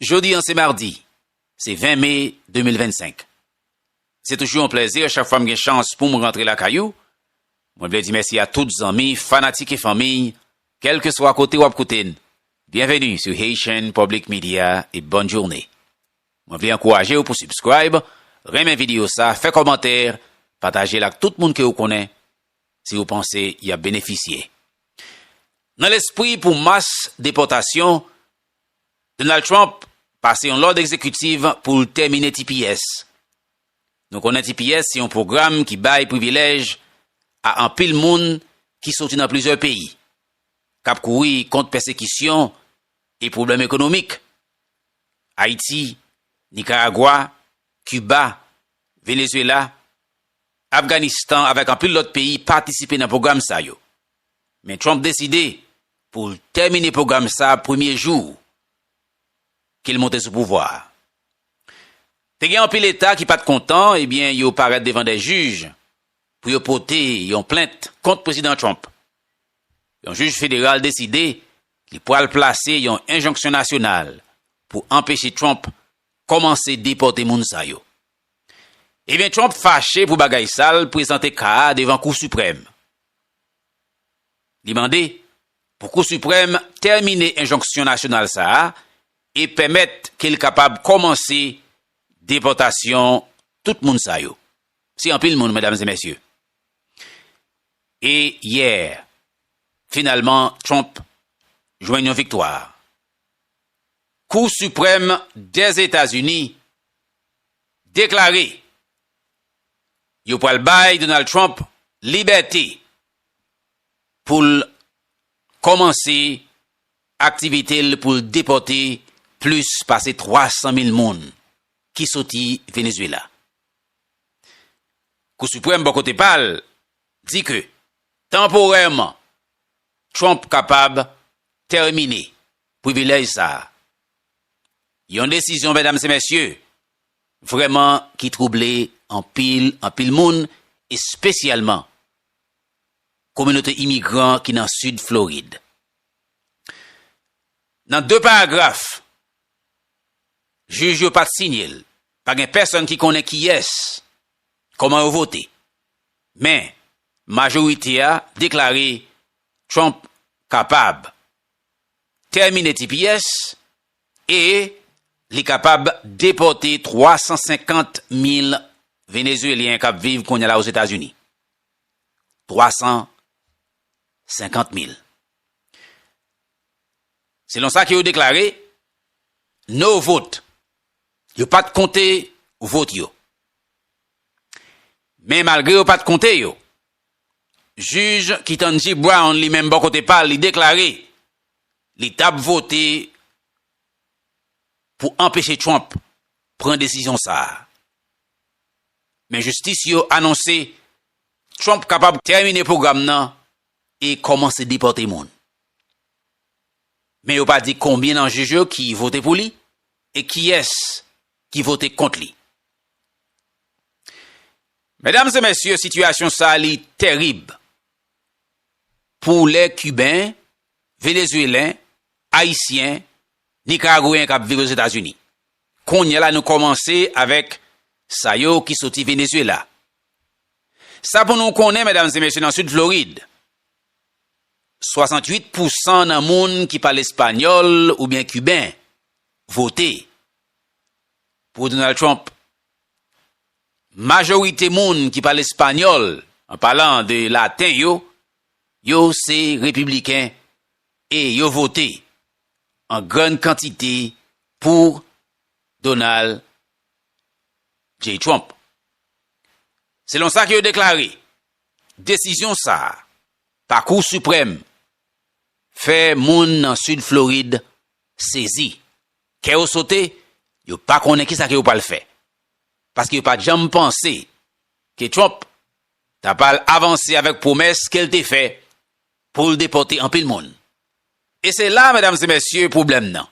Jodi an se mardi, se 20 me 2025. Se toujou yon plèzi a chak fwa m gen chans pou m rantre lakay ou. Mwen vle di mèsi a tout zanmi, fanatik e fanmiy, kèlkeswa kote w ap koute n, byenveni sou Haitian Public Media e bòn journe. Mwen vle ankouraje w pou subscribe, renmen videyo sa, fè kòmantè, pataje l ak tout moun ke ou konnen, si ou panse y ap benefisye. Nan lespri pou mas depòtasyon, Donald Trump pase yon lòd egzekitiv pou l tèmine tps. Nou konnen tps se yon pwogram ki bay privilèj a anpil moun ki soti nan plizyè peyi, k ap kouri kont pèsekisyon e pwoblèm ekonomik. Ayiti, Nikaragwa, Kiba, Venezuela, Afganistan avèk anpil lòt peyi patisipe nan pwogram sa yo. Men Trump deside pou l tèmine pwogram sa premye jou ke l monte sou pouvwa a. Te gen anpil eta ki pa t kontan ebyen yo parèt devan 2 jij pou yo pote yon plent kont Prezidan Trump. Yon jij federal deside li pral plase yon enjonksyon nasyonal pou anpeche Trump kòmanse depòte moun sa yo. Ebyen Trump fache pou bagay sa l prezante ka a devan Kou Siprèm. Li mande pou Kou Siprèm tèmine enjonksyon nasyonal sa a e pèmèt ke l kapab kòmanse depòtasyon tout moun sa yo. Se anpil moun, medam e mesye. E yè, finalman, Trump jwenn yon viktwa. Kou Siprèm Dèzetazini deklare Yo pral bay Donald Trump libète pou l kòmanse aktivite l pou l depòte plis pase 300 mil moun ki soti Venezuela. Kou Siprèm bò kote pa l di ke tanporèman Trump kapab tèmine privilèj sa a. Yon desizyon medam se mesye Vrèman ki twouble anpil anpil moun espesyalman kominote imigran ki nan Sid Florid. Nan 2 paragraf jij yo pa t sinye l, pa gen pèsonn ki konnen kiyès, kòman yo vote. Men, majorite a deklare Trump kapab tèmine tps E li kapab depòte 350 mil Venezuelyen k ap viv kounye la Ozetazini. 350 mil. Selon sa ke yo deklare, no vote. Yo pa t konte vot yo. Men malgre yo pa t konte yo, jij Ketanji Brown li menm bò kote pa l li deklare li tap vote pou anpeche Trump pran desizyon sa a. Men jistis yo anonse Trump kapab tèmine pwogram nan e kòmanse depòte moun. Men yo pa di konbyen nan jij yo ki vote pou li e kiyès ki vote kont li. Medam e mesye sitiyasyon sa li tèrib pou lè Kiben Venezuelen, Ayisyen, Nikaragweyen kap viv Ozetazini. Kounyè la nou kòmanse avèk sa yo ki soti Venezuela. Sa pou nou konnen medam e mesye nan Sid Florid, 68 pousan nan moun ki pale espanyòl oubyen kiben vote pou Donald Trump. Majorite moun ki pale espanyòl, an palan de laten yo, Yo se Repibliken e yo vote an grann kantite pou Donald J. Trump. Selon sa ke yo deklare, desizyon sa a pa Kou Siprèm fè moun nan Sid Florid sezi, kè yo sote, yo pa konnen kisa ke yo pral fè. Paske yo pa janm panse ke Trump ta pral avanse avèk pwomès ke l te fè pou l depòte anpil moun. E se la, medam e mesye, pwoblèm nan.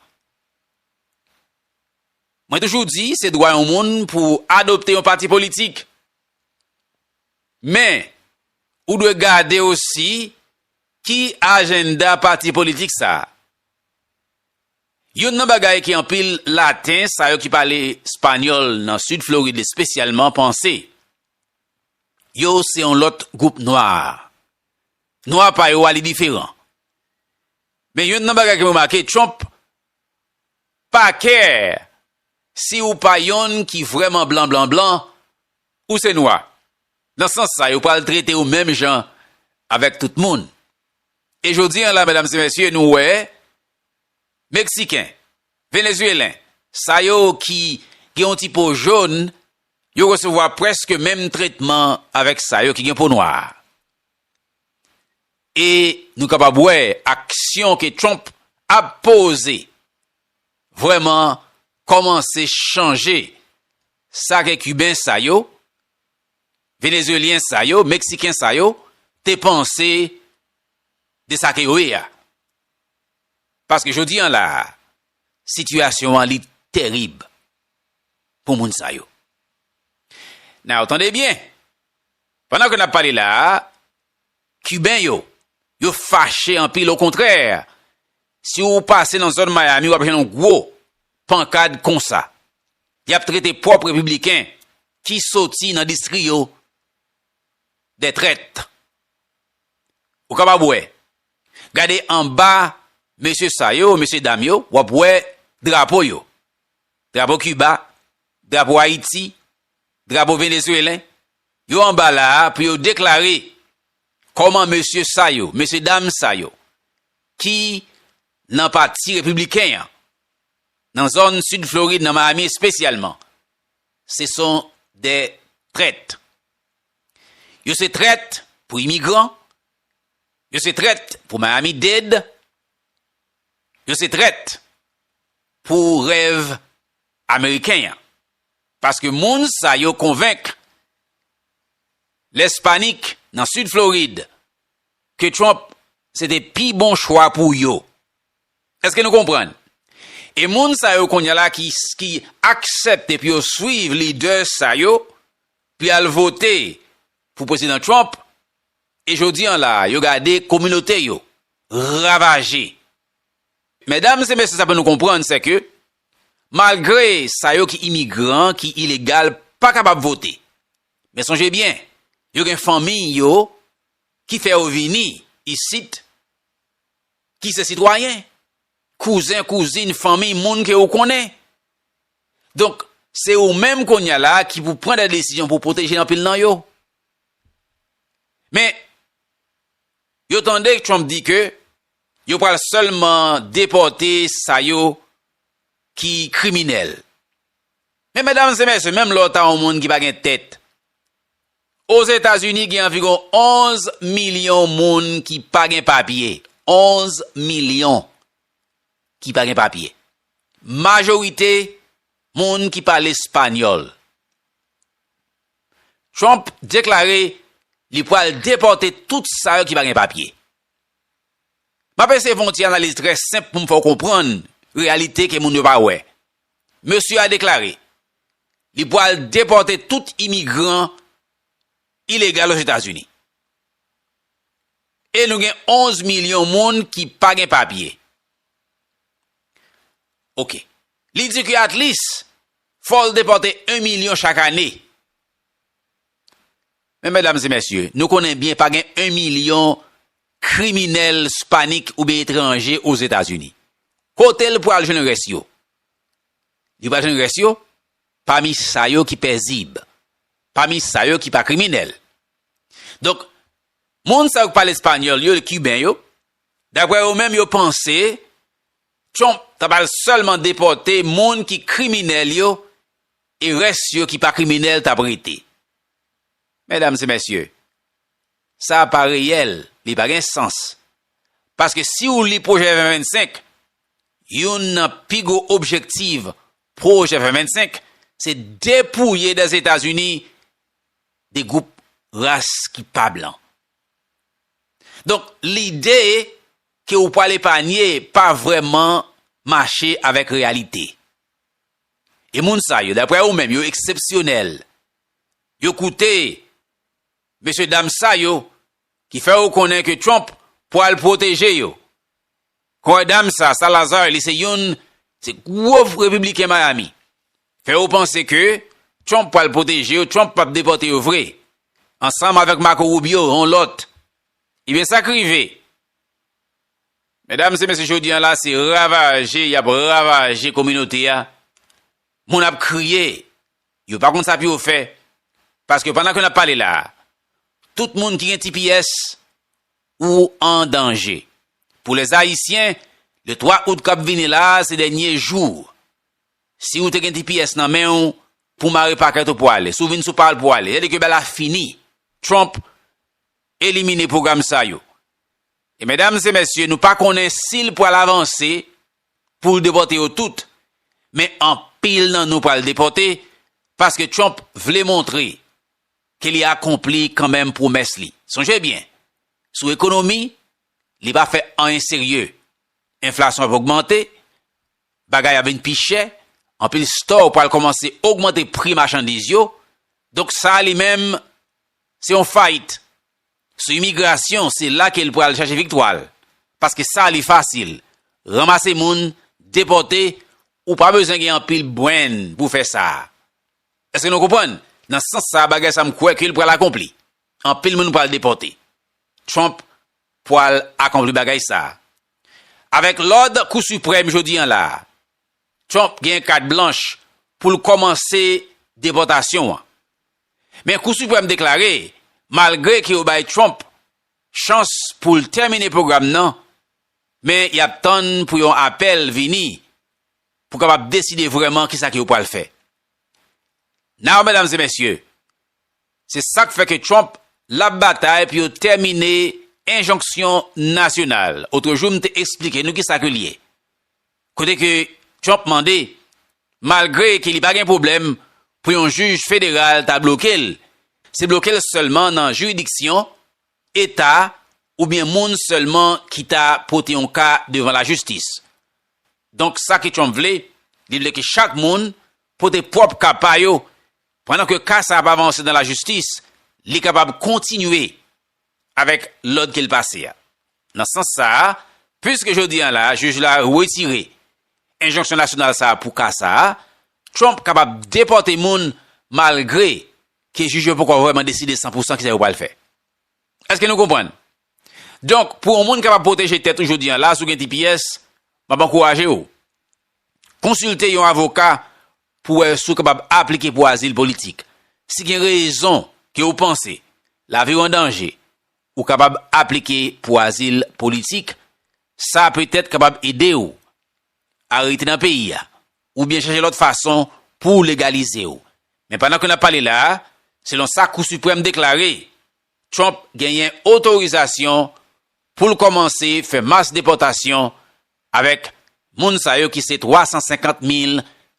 Mwen toujou di se dwa yon moun pou adopte yon pati politik. Men, ou dwe gade osi ki ajenda pati politik sa a. Youn nan bagay ke anpil laten, sa yo ki pale espanyòl nan Sid Florid espesyalman, panse, Yo se yon lòt gwoup nwa. Nwa pa yo a li diferan. Men yonn nan bagay ke m remake, Trump pa kè si ou pa yonn ki vrèman blan blan blan, ou se nwa. Nan sans sa, yo pral trete ou menm jan avèk tout moun. E jodi an la, medam e mesye, nou wè Meksiken, Venezuelen, sa yo ki gen yon ti po jòn, Yo resevwa prèske menm tretman avèk sa yo ki gen po nwa. E nou kapab wè aksyon ke Trump ap poze vrèman kòmanse chanje sa ke Kiben sa yo, Venezyelyen sa yo, Meksiken sa yo te panse de sa ke yo ye a. Paske jodi an la a, sitiyasyon an li terib. pou moun sa yo. Now, tande byen, pandan ke n ap pale la a, Kiben yo, yo fache anpil, okontrè, si ou pase nan zòn Miami, w ap jwenn yon gwo pankad konsa. Y ap trete pwòp Repibliken ki soti nan distri yo dè trèt. Ou kapab wè, gade anba mesye sa yo, mesye dam yo, w ap wè drapo yo. Drapo Kiba, drapo Ayiti, drapo Venezuelen, yo anba la a pou yo deklare kòman mesye sa yo, mesye dam sa yo ki nan pati repibliken an, nan zòn sid Florid, nan Miami espesyalman, se son de trèt. Yo se trèt pou imigran, yo se trèt pou Miami-Dade, yo se trèt pou rèv ameriken an paske moun sa yo konvenk lespanik nan sid florid ke trump se te pi bon chwa pou yo eske nou konprann e moun sa yo kounye la ki aksèpte pou yo swiv lidè sa yo pou yal vote pou prezidan trump e jodi an la yo gade kominote yo ravaje. Medam e mesye sa pou nou konprann se ke malgre sa yo ki imigran, ki ilegal pa kapab vote. Men sonje byen, yo gen fanmi yo ki fè yo vini isit ki se sitwayen. Kouzen, kouzin, fanmi, moun ke ou konnen. Donk, se ou menm konya la ki pou pran de desizyon pou pwoteje anpil nan yo. Men, Yo tande Trump di ke yo pral sèlman depòte sa yo ki kriminèl. Men medam e mesye, menm lè w ta yon moun ki pa gen tèt, Ozetazini gen anviwon 11 milyon moun ki pa gen papye, 11 milyon ki pa gen papye. Majorite moun ki pale espanyòl. Trump deklare li pwal depòte tout sa yo ki pa gen papye. Map eseye fè yon ti analiz trè senp pou m fè w konprann reyalite ke moun yo pa wè. Mesye a deklare li pwal depòte tout imigran ilegal Ozetazini. E nou gen 11 milyon moun ki pa gen papye. Ok. Li di ke at least Fò l depòte 1 milyon chak ane. Men medam e mesye, nou konnen byen pa gen 1 milyon kriminèl spanik oubyen etranje Ozetazini. Kote l pral jwenn rès yo? Li pral jwenn rès yo pami sa yo ki pèzib, pami sa yo ki pa kriminèl. Donk, moun sa yo k pale espanyòl yo, kiben yo, daprè yo menm yo panse Trump ta pral sèlman depòte moun ki kriminèl yo e rès yo ki pa kriminèl tap rete. Medam se mesye, sa a pa reyèl, li pa gen sans. Paske si ou li pwojè 2025, youn nan pi gwo objektiv pwojè 2025 se depouye dan Zetazini de gwoup ras ki pa blan. Donk lide ke ou pwal epanye pa vrèman mache avèk reyalite. E moun sa yo, daprè ou menm, yo eksepsyonèl. Yo koute mesye dam sa yo ki fè ou konnen ke Trump pwal pwoteje yo. Kòy dam sa, Salazar, li se youn se gwo repibliken Miami. Fè ou panse ke Trump pwal pwoteje yo, Trump pap depòte yo vre. Ansanm avèk Marco Rubio, yon lòt Ebyen sak rive medam se mesye jodi an la se ravaje yap ravaje kominote a moun ap kriye yo pa konn sa pou yo fè paske pandan ke nap pale la tout moun ki gen tps ou an danje pou les ayisyen le 3 out kap vini la se dènye jou si ou te gen tps nan menw pou mare pakèt ou pou ale si ou vin sou pa ou pou ale se a di ke bagay la fini trump Elimine pwogram sa yo. E medam e mesye nou pa konnen si l pral avanse pou l depòte yo tout. Men anpil nan nou pral depòte paske Trump vle montre ke li akonpli kanmenm pwomès li. Sonje byen, sou ekonomi, li pa fè anyen serye. Enflasyon ap ogmante, bagay ap vin pi chè, anpil store pral kòmanse ogmante pri machandiz yo, donk sa li menm Se yon fight sou imigrasyon se la kel pral chache viktwal paske sa li fasil ranmase moun depòte ou pa bezwen gen anpil brain pou fè sa eske nou konprann nan sans sa bagay sa m kwè kel pral akonpli anpil moun pral depòte Trump pwal akonpli bagay sa avèk lòd kou siprèm jodi an la Trump gen kat blanch poul kòmanse depòtasyon an Men Kou Siprèm deklare malgre ke yo bay Trump chans pou l tèmine pwogram nan, men y ap tann pou yon apèl vini pou kapab deside vrèman kisa ke yo pral fè. Now medam e mesye, se sa k fè ke Trump l ap batay pou yo tèmine enjonksyon nasyonal. Otrejou m te esplike nou kisa ke l ye. kote ke Trump mande, malgre ke li pa gen pwoblèm pou yon jij federal ta bloke l, se bloke l sèlman nan jiridiksyon eta oubyen moun sèlman ki ta pote yon ka devan lajistis. Donk sa ke Trump vle, li vle ke chak moun pote pwòp ka pa yo, pandan ke ka sa ap avanse nan lajistis, li kapab kontinye avèk lòd ke l pase a. Nan sans sa a, piske jodi an la a jij la wetire enjonksyon nasyonal sa a pou ka sa a, Trump kapab depòte moun malgre ke jij yo poko vrèman deside san pou san kisa yo pral fè. Èske nou konprann? Donk, pou yon moun kapab pwoteje tèt ou jodi an la a si w gen tps, m ap ankouraje w konsilte yon avoka pou wè si w kapab aplike pou azil politik. Si gen rezon ke ou panse lavi w an danje, ou kapab aplike pou azil politik. Sa petèt kapab ede w a rete nan peyi a oubyen chache lòt fason pou legalize w. Men pandan ke n ap pale la a, selon sa Kou Siprèm deklare, Trump genyen otorizasyon pou l kòmanse fè mas depòtasyon Avèk moun sa yo ki se 350 mil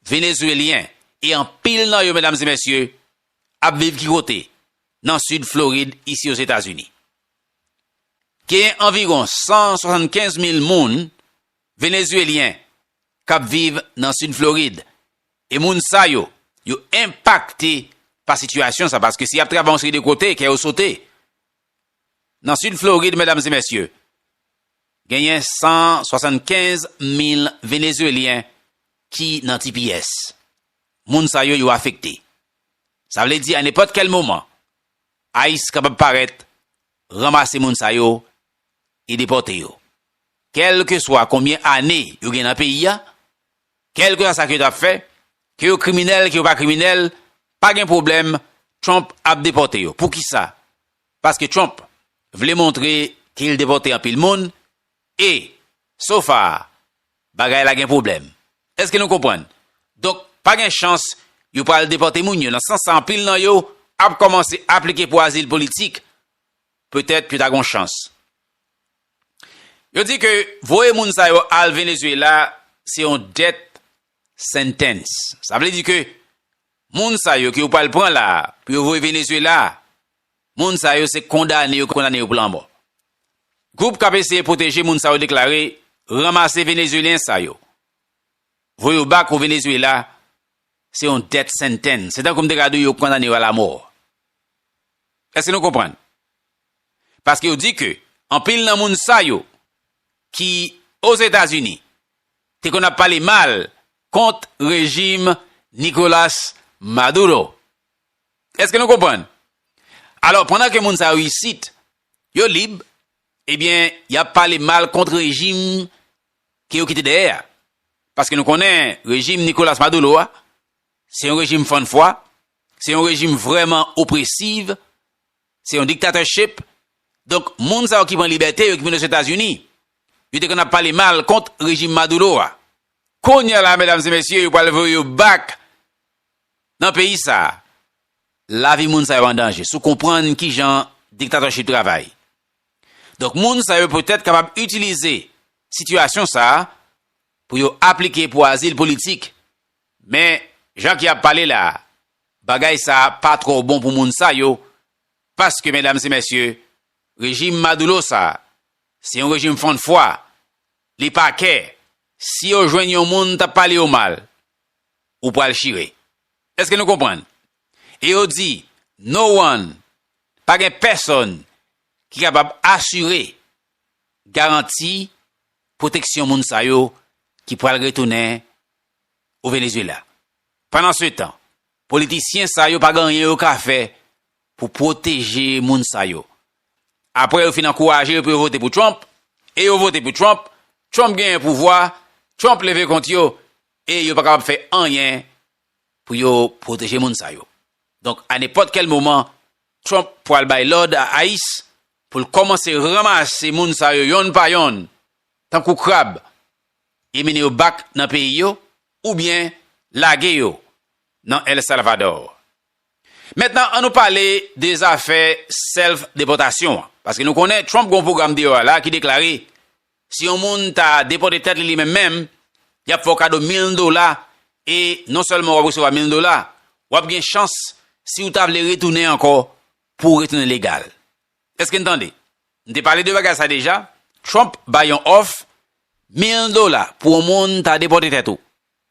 Venezuelyen e anpil nan yo medam e mesye ap viv ki kote? Nan Sid Florid isi Ozetazini. Genyen anviron 175 mil moun Venezuelyen kap viv nan Sid Florid e moun sa yo, yo enpakte pa sitiyasyon sa paske si yap travay yon seri de kote kè yo sote Nan Sid Florid, medam e mesye, genyen 175 mil Venezuelyen ki nan tps. Moun sa yo, yo afekte. Sa vle di a nenpòt kèl moman, ice kapab parèt, ranmase moun sa yo e depòte yo. Kèlkeswa konbyen ane yo gen nan peyi a, Kèlkeswa sa ke yo ta fè, ke yo kriminèl, ke yo pa kriminèl, pa gen pwoblèm, Trump ap depòte yo. Poukisa? Paske Trump vle montre ke li depòte anpil moun e, so far, bagay la gen pwoblèm. Èske nou konprann? Donk, pa gen chans yo pral depòte moun yo. Nan sans sa anpil nan yo ap kòmanse aplike pou azil politik, petèt yo ta gen yon chans. Yo di ke voye moun sa yo al Venezuela se yon death sentence. Sa vle di ke moun sa yo ke yo pral pran la a, pou yo voye Venezuela, moun sa yo se kondane yo kondane yo pou lanmò. Gwoup k ap eseye pwoteje moun sa yo deklare, Ranmase Venezuelyen sa yo, voye yo back o Venezuela se yon death sentence. Se tankou m te ka di w yo kondane yo a lamò. Èske nou konprann? paske yo di ke anpil nan moun sa yo ki Ozetazini te konn ap pale mal kont rejim Nicolas Maduro. Eske nou konprann? Alò pandan ke moun sa yo isit yo lib, ebyen y ap pale mal kont rejim ke yo kite dèyè a. Paske nou konnen rejim Nicolas Maduro a se yon rejim fann fwa, se yon rejim vrèman opresiv Se yon dictatorship, donk moun sa yo ki pran libète yo ki vin Ozetazini, yo te konn ap pale mal kont rejim Maduro a. Kounye la medam e mesye yo pral voye yo back nan peyi sa. Lavi moun sa yo an danje si w konprann kijan dictatorship travay. Donk moun sa yo petèt kapab itilize sitiyasyon sa pou yo aplike pou azil politik Men, jan ke ap pale la, bagay sa a pa twò bon pou moun sa yo, paske medam e mesye, rejim Madoulo sa a, se yon rejim fann fwa, li pa kè, si yo jwenn yon moun t ap pale yo mal, ou pral chire. Eske nou konprann? E yo di, no one, pa gen pèsonn ki kapab asire, garanti, pwoteksyon moun sa yo ki pral retounen o Venezuela. Pandansetan, politisyen sa yo pa gen anyen yo ka fè pou pwoteje moun sa yo. Apre yo fin ankouraje yo pou yo vote pou Trump, e yo vote pou Trump, Trump genyen pouvwa, Trump leve kont yo, e yo pa kapab fè anyen pou yo pwoteje moun sa yo. Donk, a nenpòt kèl moman, Trump pwal bay lòd a ice pou l kòmanse ranmase moun sa yo yonn pa yonn, tankou krab, Emine yo bak nan peyi yo oubyen lage yo nan El Salvador. Mentnan an nou pale de zafè self depòtasyon an, paske nou konnen Trump gen yon pwogram deyò a la ki deklare si yon moun ta depòte tèt li li menm menm, yap fè w kado mil dola e non sèlman wap resevwa mil dola, wap gen chans si w ta vle retounen ankò pou w retounen legal. Eske n tande? M te pale de bagay sa deja, Trump bay yon òf 1000 dola pou yon moun ta depòte tèt ou.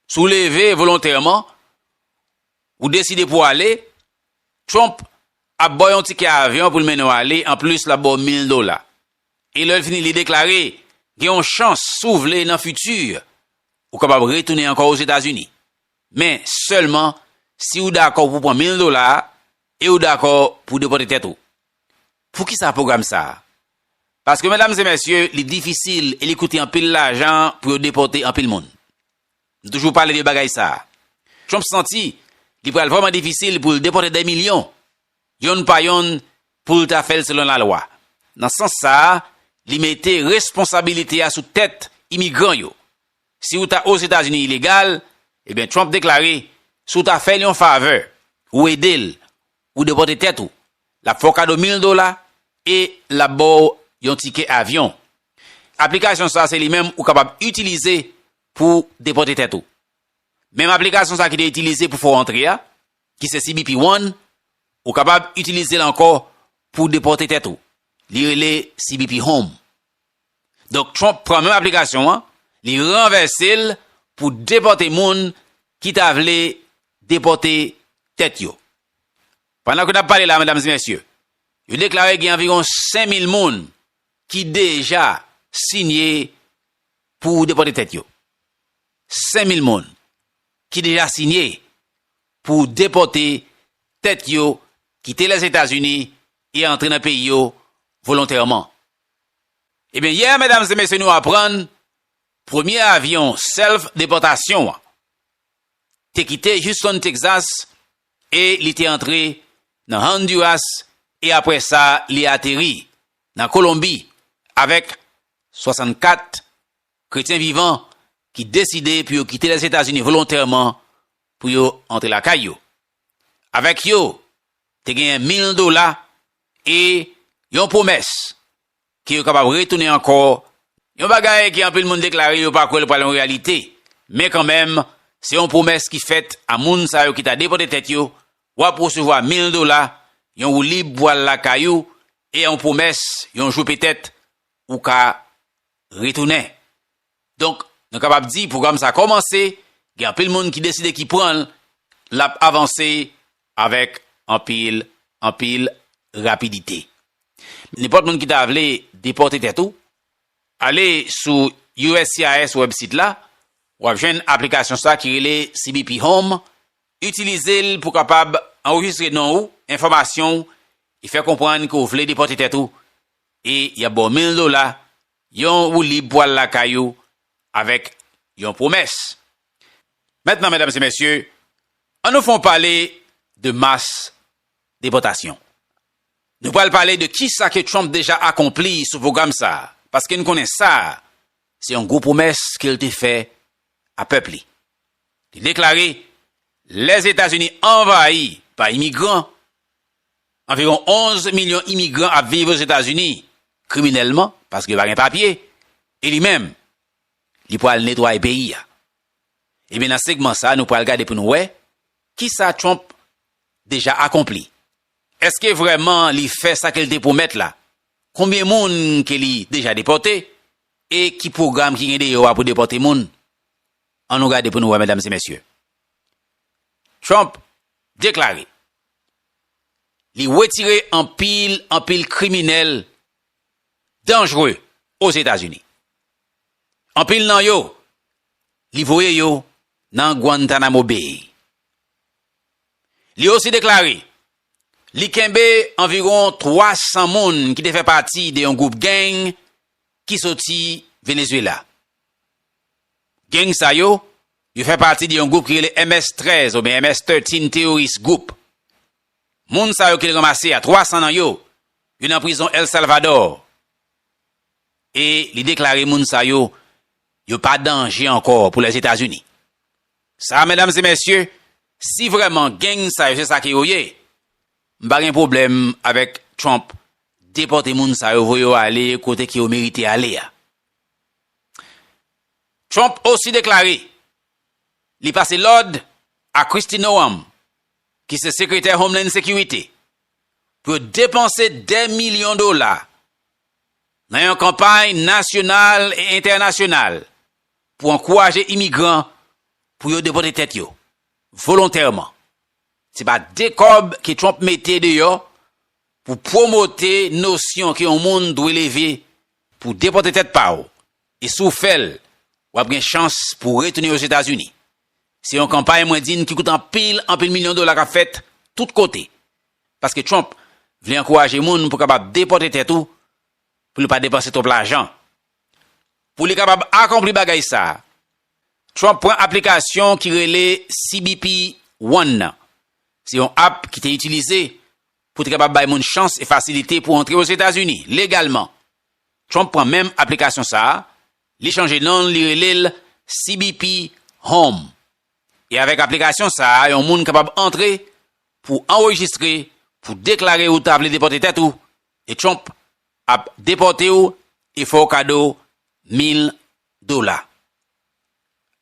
Si w leve volontèman, ou deside pou w ale, Trump ap ba w yon tikè avyon pou l mennen w ale, anplis l ap ba w 1000 dola. E lè l fini li deklare, gen yon chans si w vle nan fiti, ou kapab retounen ankò Ozetazini. Men, sèlman si w dakò pou w pran 1000 dola a, E ou dakò pou w depòte tèt ou? Poukisa pwogram sa a? Paske medam e mesye, li difisil e li koute anpil lajan pou yo depòte anpil moun. Nou toujou pale de bagay sa a. Trump santi li pral vrèman difisil pou l depòte dè milyon, yonn pa yonn pou l ta fè l selon lalwa. Nan sans sa a, li mete responsabilite a sou tèt imigran yo. Si ou ta Ozetazini ilegal, ebyen Trump deklare, si w ta fè l yon favè, ou ede l, ou depòte tèt ou, l ap fè w kado 1000 dola e l ap ba w yon tikè avyon. Aplikasyon sa se li menm ou kapab itilize pou depòte tèt ou. Menm aplikasyon sa ki te itilize pou fè w antre a, ki se CBP One, ou kapab itilize l ankò pou depòte tèt ou. Li rele CBP Home. Donk Trump pran menm aplikasyon an, li ranvèse l pou depòte moun ki ta vle depòte tèt yo. Pandan ke n ap pale la, medam e mesye, yo deklare gen anviwon 5,000 moun ki deja sinye pou depòte tèt yo. 5,000 moun ki deja sinye pou depòte tèt yo kite Lèzetazini e antre nan peyi yo volontèman. Ebyen yè medam e mesye nou aprann premye avyon self depòtasyon an te kite Houston Texas e li te antre nan Honduras e aprè sa li ateri nan Kolonbi avèk 64 kretyen vivan ki deside pou yo kite Lèzetazini volontèman pou yo antre lakay yo. Avèk yo te genyen 1000 dola E yon pwomès, ke yo kapab retounen ankò, yon bagay ke anpil moun deklare yo pa kwè l pral yon reyalite, men kanmenm, se yon pwomès ki fèt a moun sa yo ki ta depòte tèt yo, w ap resevwa 1000 dola, yon woulib pou al lakay ou, e yon pwomès yon jou petèt ou ka retounen. Donk, nou kapab di pwogram sa kòmanse, gen anpil moun ki deside ki pran l, l ap avanse avèk anpil, anpil rapidite. Nenpòt moun ki ta vle depòte tèt ou, ale sou uscis wèbsit la, w ap jwenn aplikasyon sa ki rele CBP Home, itilize l pou kapab anrejistre non ou, enfòmasyon ou e fè konprann ke w vle depòte tèt ou e y ap ba w 1000 dola Yon woulib pou al lakay ou avèk yon pwomès. Mentnan medam e mesye, an nou fon pale de mas depòtasyon. Nou pral pale de kisa ke Trump deja akonpli sou pwogram sa a, paske n konnen sa a se yon gwo pwomès ke l te fè a pèp li. Li deklare, Lèzetazini anvayi pa imigran. Anviwon 11 milyon imigran ap viv Ozetazini kriminèlman paske yo pa gen papye e li menm li pwal netwaye peyi a. Ebyen nan segman sa nou pwal gade pou nou wè kisa Trump deja akonpli. Eske vrèman li fè sa ke li te pwomèt la? Konbyen moun ke li deja depòte e ki pwogram ki gen deyò a pou depòte moun? An nou gade pou nou wè medam e mesye. Trump deklare li wetire anpil anpil kriminèl danjre Ozetazini. Anpil nan yo, li voye yo nan Guantanamo Bay. Li osi deklare li kenbe anviwon 300 moun ki te fè pati de yon gwoup gang ki soti Venezuela. Gang sa yo, yo fè pati de yon gwoup ki rele MS 13 oubyen MS 13 Terrorist Group. Moun sa yo ke l ranmase a, 300 nan yo, yo nan prizon El Salvador. E li deklare moun sa yo, yo pa danje ankò pou Lèzetazini. Sa a medam e mesye, si vrèman gang sa yo se sa ke yo ye, m pa gen pwoblèm avèk Trump depòte moun sa yo, voye yo ale kote ke yo merite ale a. Trump osi deklare li pase lòd a Kristi Noam, ki se sekretè Homeland Security, pou yo depanse dè milyon dola nan yon kanpay nasyonal e entènasyonal pou ankouraje imigran pou yo depote tèt yo volontèman. Se pa de kòb ke Trump mete deyò pou pwomote nosyon ke yon moun dwe leve pou depòte tèt pa w e si w fè l w ap gen chans pou w retounen Ozetazini. Se yon kanpay mwen di n ki koute anpil anpil milyon dola k ap fèt tout kote paske Trump vle ankouraje moun pou kapab depòte tèt ou pou li pa depanse twòp lajan. Pou li kapab akonpli bagay sa a, Trump pran aplikasyon ki rele cbp One nan. Se yon app ki te itilize Pou te kapab bay moun chans e fasilite pou antre Ozetazini legalman, Trump pran menm aplikasyon sa a, li chanje non l, li rele l CBP Home. E avèk aplikasyon sa a, yon moun kapab antre pou anrejistre, pou deklare ou ta vle depòte tèt ou, e Trump ap depòte w e fè w kado 1000 dola.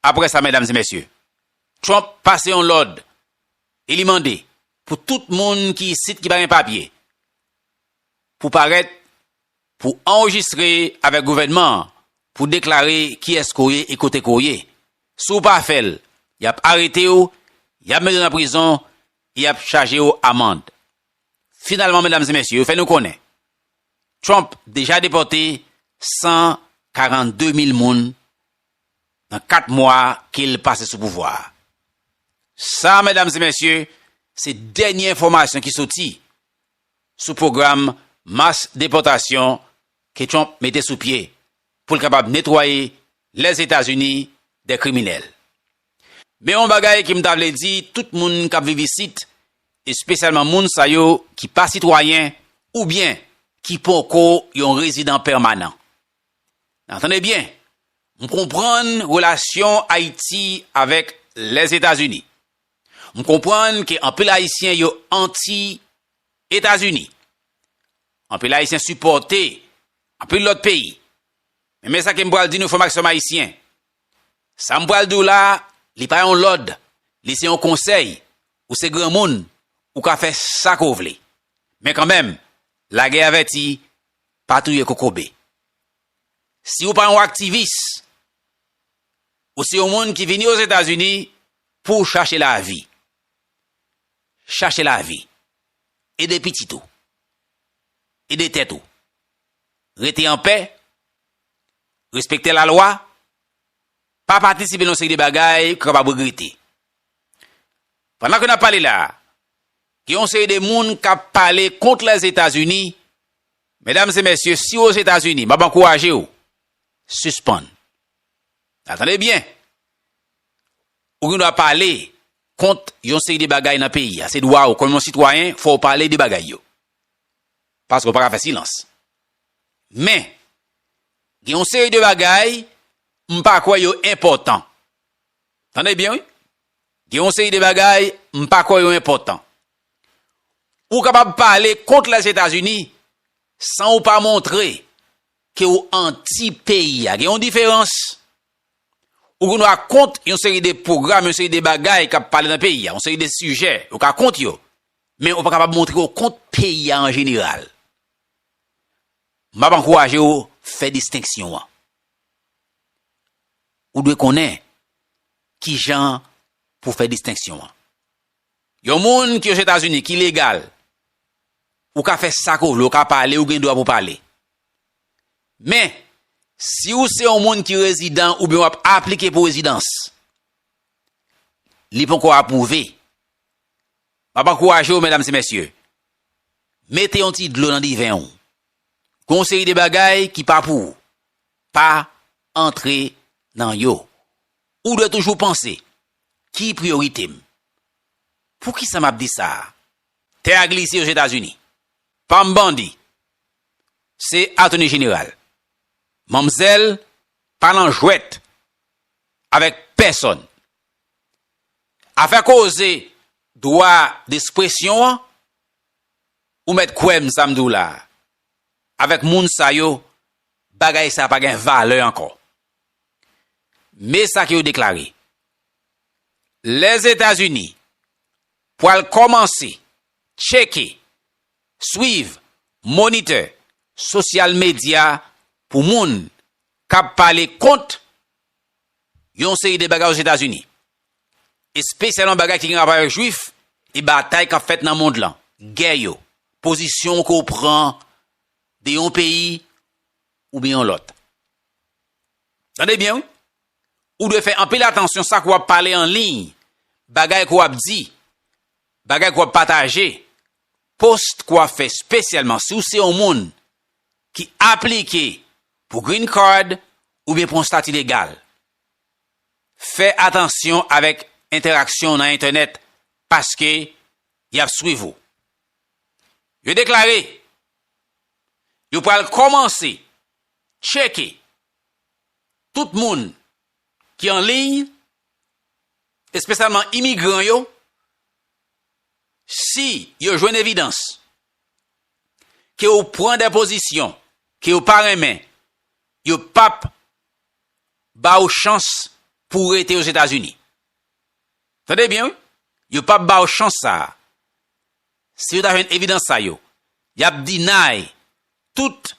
Aprè sa, medam e mesye, Trump pase yon lòd e li mande pou tout moun ki isit ki pa gen papye pou parèt pou anrejistre avèk gouvènman an pou deklare kiyès ke w ye e kote ke w ye. Si w pa fè l, y ap arete w, y ap mete w nan prizon e y ap chaje w amand. Finalman, medam e mesye, yo fè nou konnen Trump deja depòte 142 mil moun nan 4 mwa ke l pase sou pouvwa a. Sa, medam e mesye, se dènye enfòmasyon ki soti sou pwogram mas depòtasyon ke Trump mete sou pye pou l kapab netwaye Lèzetazini de kriminèl. Men yon bagay ke m ta vle di tout moun k ap viv isit, espesyalman moun sa yo ki pa sitwayen oubyen ki poko yon rezidan pèmanan, Nan tande byen, m konprann relasyon Ayiti avèk Lèzetazini. M konprann ke anpil Ayisyen yo anti Etazini. Anpil Ayisyen sipòte anpil lòt peyi. Men men sa ke m pral di nou frè m ak sè m Ayisyen. Sa m pral di w la, li pa yon lòd, li se yon konsèy. Ou se granmoun, ou ka fè sa ke w vle. Men kanmenm, lagè avèti, Pa touye kokobe. Si ou pa yon aktivis, ou se yon moun ki vini Ozetazini pou w chache lavi. Chache lavi. Ede pitit ou. Ede tèt ou. Rete anpè. Respekte lalwa. Pa patisipe nan yon seri de bagay ke w kapab regrete. Pandan ke n ap pale la a, gen yon seri de moun k ap pale kont Lèzetazini Medam e mesye si w ozetazini map ankouraje w sispann nan tande byen ou gen dwa pale kont yon seri de bagay nan peyi a se dwa w kòm yon sitwayen fò w pale de bagay yo paske w paka fè silans men gen yon seri de bagay m pa kwè yo enpòtan tande byen wi gen yon seri de bagay m pa kwè yo enpòtan Ou kapab pale kont Lèzetazini san ou pa montre ke ou anti peyi a. Gen yon diferans. Ou gen dwa kont yon seri de pwogram, yon seri de bagay k ap pale nan peyi a, yon seri de sijè, ou ka kont yo, men ou pa kapab montre ou kont peyi a an jeneral. M ap ankouraje ou fè distenksyon an. Ou dwe konnen kijan pou fè distenksyon an. Yon moun ki Ozetazini ki legal, ou ka fè sa ke w vle, ou ka pale, ou gen dwa pou pale. Men, si ou se yon moun ki rezidan oubyen w ap aplike pou rezidans, li ponko apwouve, m ap ankouraje w medam e mesye, mete yon ti dlo nan diven w. Gen yon seri de bagay ki pa pou ou, pa antre nan yo. Ou dwe toujou panse Ki priyorite m? Poukisa m ap di sa a? Tè a glise Ozetazini. Pa m bandi. Se Atoni Jeneral. Manmzèl pa nan jwèt avèk pèsonn. Afè koze dwa despresyon an, ou mèt kwè m sa m di w la a, avèk moun sa yo, bagay sa a pa gen valè ankò. Me sa ke yo deklare, Lèzetazini pwal kòmanse tcheke, swiv, monitè sosyal medya pou moun kap pale kont yon seri de bagay Ozetazini, espesyalman bagay ki gen rapò avèk jwif e batay kap fèt nan mond lan, gè yo, pozisyon ke w pran de yon peyi oubyen yon lòt. Tande byen wi, ou dwe fè anpil atansyon sa ke w ap pale an liy, bagay ke w ap di, bagay ke w ap pataje, post ke w ap fè spesyalman si w se yon moun ki aplike pou green card oubyen pou yon stati legal. Fè atansyon avèk entèraksyon w nan entènèt paske y ap swiv ou. Yo deklare. Yo pral kòmanse tcheke tout moun ki an liy, espesyalman imigran yo, si yo jwenn evidans ke ou pran de pozisyon ke yo pa renmen, yo p ap ba ou chans pou ou rete Ozetazini. Tande byen wi, yo p ap ba ou chans sa a. si yo ta jwenn evidans sa yo, y ap deny tout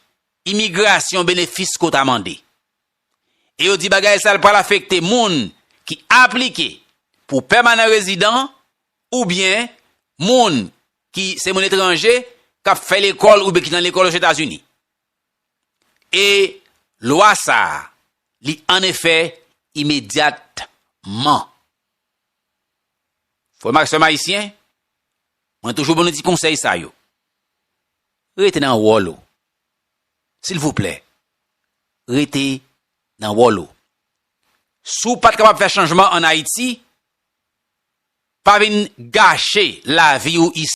imigrasyon benefis ko ta mande. E yo di bagay sa l pral afekte moun ki aplike pou pèmanan rezidan oubyen moun ki se moun etranje k ap fè lekòl oubyen ki nan lekòl Ozetazini. E lwa sa li an efè imedyatman. Frè m ak sè m ayisyen, mwen toujou ban nou ti konsèy sa yo, rete nan wòl ou. Silvouplè, rete nan wòl ou. Si w pa t kapab fè chanjman an Ayiti, pa vin gache lavi ou isit.